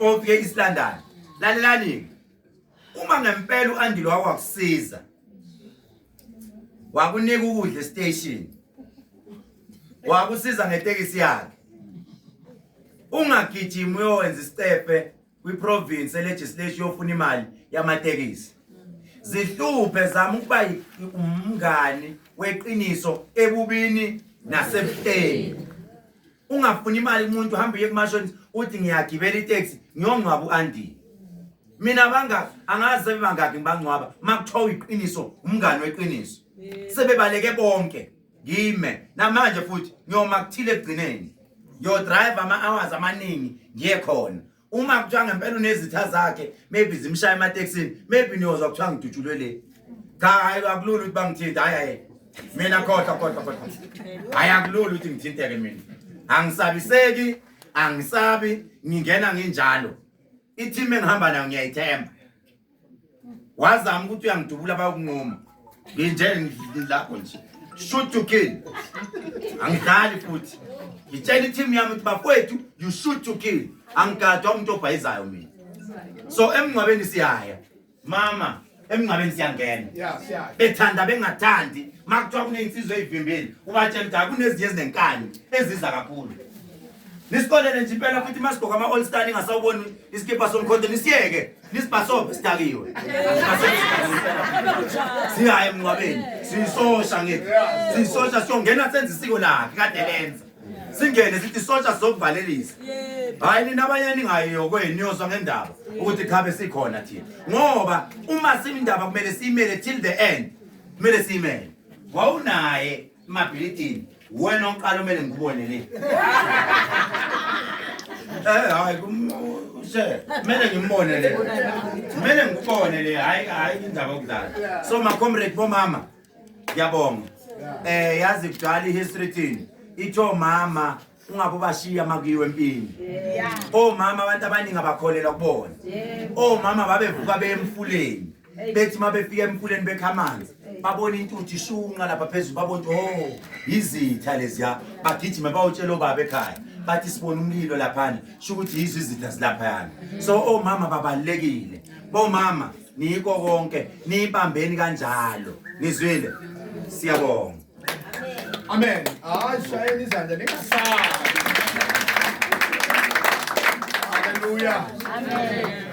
ofike isilandane lalelani uma ngempela uandile wakwakusiza wakunika ukudla estation wakusiza ngetekisi yakhe ungagijimi uyowenza isicefe kwiprovince elegislation yofuna imali yamatekisi zihluphe zama ukuba umngani weqiniso ebubini nasebuhleni ungafuni imali kumuntu hamba uye kumashonisa uthi ngiyagibela itaxi ngiyongcwaba u-andile mina bangaki angazi sebebangaki ngibangcwaba uma kuthiwa uyiqiniso umngane weqiniso sebebaleke bonke ngime namanje futhi ngiyoma kuthile ekugcineni ngiyodrive ama-hours amaningi ngiye khona uma kuthiwa ngempela unezitha zakhe maybe zimshaya emateksini maybe niyozwa kuthiwa ngidutshulwe le cha hayi akulula ukuthi bangithinte hayi hayi mina khohlwa khohlwa khohlwa hayi akulula ukuthi ngithinteke mina angisabiseki angisabi ngingena nginjalo i-team engihamba nayo ngiyayithemba wazama ukuthi uyangidubula bayokunqoma nginje lapho nje shoot to kill angidlali futhi ngitshela i-team yami ukuthi bafowethu you shoot to kill angigadwa umuntu obhayizayo mina so emngcwabeni siyaya mama emngcwabeni siyangena bethanda bengathandi makuthiwa kuney'nsizwa ey'vimbile ubatshela ukuthi akunezinye ezinenkani eziza kakhulu nisikolele nje impela futhi uma sigqoka ama-all star ningasawuboni isikibha somkhonto nisiyeke nisibhasobhe sidakiwe sihaye emnqwabeni siyisosha ngithi siyisosha siyongena senza isiko lakhe kade lenza singene sithi isosha sizokuvalelisa hhayi nina abanye ningayiyo kwenu niyozwa ngendaba ukuthi khabe sikhona thina ngoba uma siyindaba kumele siyimele till the end kumele siyimele wawunaye Mabhilidini, wena oqala umele ngikubone le. Eh hayi kumse. Kumele ngimbone le. Kumele ngikubone le. Hayi hayi indaba yokudlala. So ma comrade bomama. Ngiyabonga. Eh yazi kudala ihistory thini. Itho mama ungabe ubashiya makuyiwe empini omama abantu abaningi abakholelwa kubona omama babevuka beye emfuleni bethi uma befika emfuleni bekha amanzi babona intuthu ishunqa lapha phezulu babona ukuthi o oh, yizitha leziya bagijime bawutshela obaba ekhaya bathi sibona umlilo laphana sho ukuthi yizo izitha zilaphayana so omama babalulekile bomama niyiko konke niyibambeni kanjalo nizwile siyabonga Amen. Hayi shayeni izandla ningasabi. Hallelujah. Amen.